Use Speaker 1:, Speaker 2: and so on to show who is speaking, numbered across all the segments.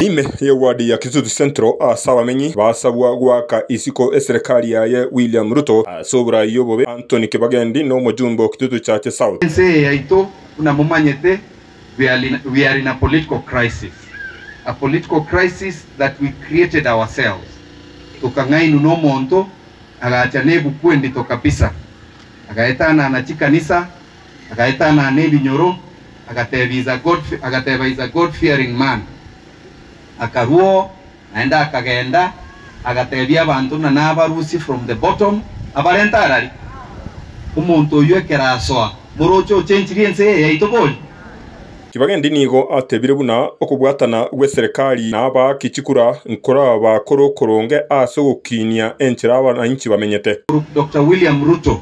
Speaker 1: Ime y'eward ya Kisutu Central ase abamenyi basabwa goaka isiko eserekari yaye William Ruto ase oborai obobe Anthony Kibagendi n'omojumbe o Kitutu Chache South. Ense eye yaito buna momanyete we are in a political crisis, a political crisis that we created ourselves tokang'ainwa nomonto agacha nebuku endito kabisa agaetanana chikanisa, agaetanana ebinyoro, agateebia is a God, agateba is a God fearing man. Akarua oo, naende akagenda, agateebia abanto buna nabarusie from the bottom, abarente are aria. Omonto oyio ekero asoa, moroche ochenchirie ense eye yaito bori? Tibagendi nigo atebire buna okobwatana gw'eserekari na abaaki chikura nkoraba kore okoronge ase ogokiinia enchera abananchi bamenyete. Doctor William Ruto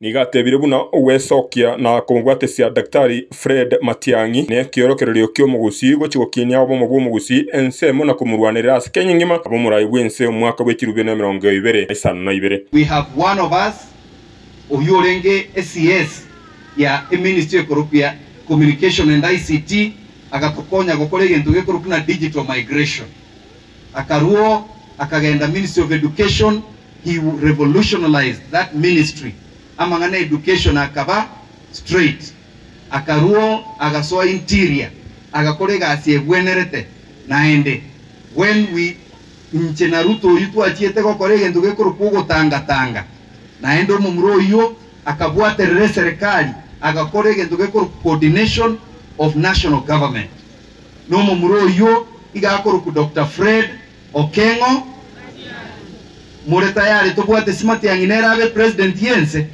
Speaker 1: Nigo atebire buna ogwesokia na komobwatesia Daktari Fred Matiang'i nekiorokererio ki'omogusii gochia gokinia obomo bw'omogusii ensemo na komorwanerera ase Kenya engima abomorai bw'ense omwaka bwe chirubio na emerongo ibere na isano na ibere. We have one of us oywo orenge CS ya eministry ekorokwa ya Communication and ICT agatokonya gokora egento gekorokwa buna digital migration. Akarwoo akagenda ministry of education he revolutionalized that ministry amang'ana ya education akaba straight. Akarwoo agasoa interior agakora egasi egwenerete naende when we inche na Ruto oyio twachiete gokora egento gekorokwa ogotanga tanga naende omomura oyio akabwaterera eserekari agakora egento gekorokwa coordination of national government. nomomura oyio iga akorokwa Doctor Fred Okeng'o. More tayare tobwate esi Matiang'i nere abe President y'ense?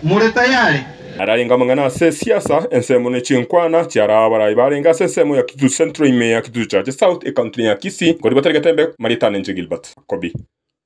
Speaker 1: More tayare? Ararenge amang'ana ase esiasa ensemo ne chinkwana chi'araa abarai barenge ase ensemo ya Kitutu Central ime ya Kitutu Church South ekauntine ya Kisii, nkoriboteregetembe marieta nenche Gilbert Kobi.